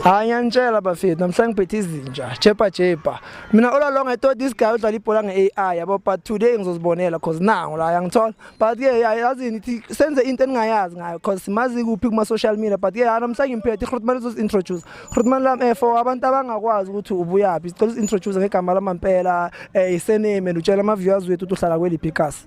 hayi ngiyanitshela bafethu namhlanje ngiphethe izinja chepa chepa mina all along i thought this guy udlala ibhola nge-ai yabo but today ngizozibonela cause nangu la yangithola but ke yazini ithi senze into eningayazi ngayo cause simazi kuphi kuma-social media but ke ha namhlanje ngimphethe ihrutman uzozi-introduce hrutman lam um for abantu abangakwazi ukuthi ubuyaphi sicela uzi-introduce ngegama lamampela um isename and utshela ama-viewers wethu ukuthi uhlala kweliphi ikasi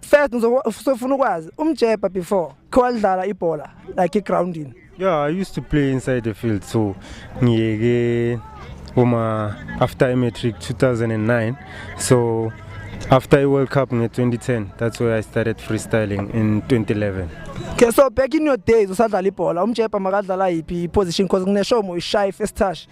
first ngizofuna ukwazi umjebha before khowalidlala ibhola like egroundini yeah i used to play inside the field so ngiyeke uma after imatric 2009 so after i-world cup nge-2010 that's where i started freestyling in 2011 okay so back in your days usadlala ibhola umjebha makadlala yiphi iposition because ngineshomo ishayi first touch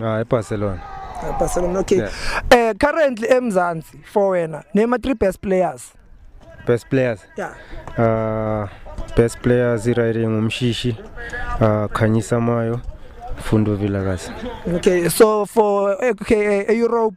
Ah eBarcelona. Eh, Barcelona okay. Yeah. Eh currently eMzansi for wena name three best players. Best players. Yeah. Uh best players iraire ngumshishi uh Khanyisa Mayo Fundo Vilakazi. Okay so for okay, eh, Europe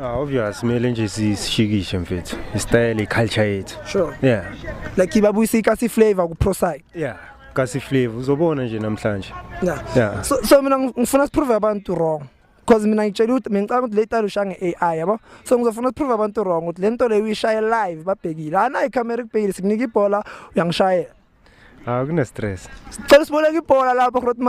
Ah obvious mele nje sishikishe mfethu. Istyle culture yethu. Sure. Yeah. Like ibabuyisa ikasi flavor ku pro side. Yeah. Kasi flavor uzobona nje namhlanje. Yeah. Yeah. So so mina ngifuna siprove abantu wrong. Because mina ngitshela ukuthi mina ngicabanga ukuthi le style ushange AI yabo. So ngizofuna ukuprove abantu wrong ukuthi lento leyo uyishaye live babhekile. Ana icamera ikubhekile sikunika ibhola uyangishayela. Ah kune stress. Sicela siboleka ibhola lapho Grotma.